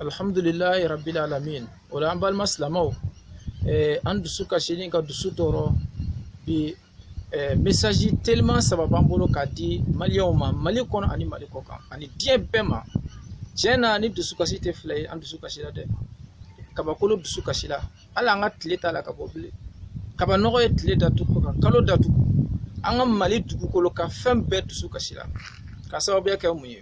alhamdulilayi rabil alamin o la an balima silamɛw eh, an dusu kasilen ka dusu tɔɔrɔ bi eh, mesaji teliman saba b'an bolo k'a di maliyɛnw ma mali kɔnɔ ani mali kɔkan ani diɲɛ bɛɛ ma tiɲɛ na nin dusukasi tɛ fila ye an dusukasila dɛ kabakolo dusukasila hali an ka tile t'a la ka bɔ bilen kabanɔgɔ ye tile datugu ka kalo datugu an ka mali dugukolo ka fɛn bɛɛ dusukasila ka sababuya kɛ mun ye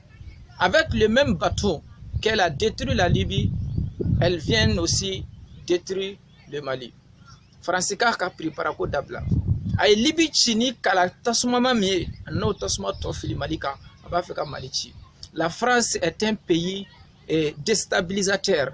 Avec le même bâton qu'elle a détruit la Libye, elle vient aussi détruire le Mali. Faransi k'a ka piriparako dabila a ye libi ci ni kala tasumama min ye a n'o tasuma tɔ fili mali kan a b'a fɛ ka mali ci la france est un pays eh, déstabilisateur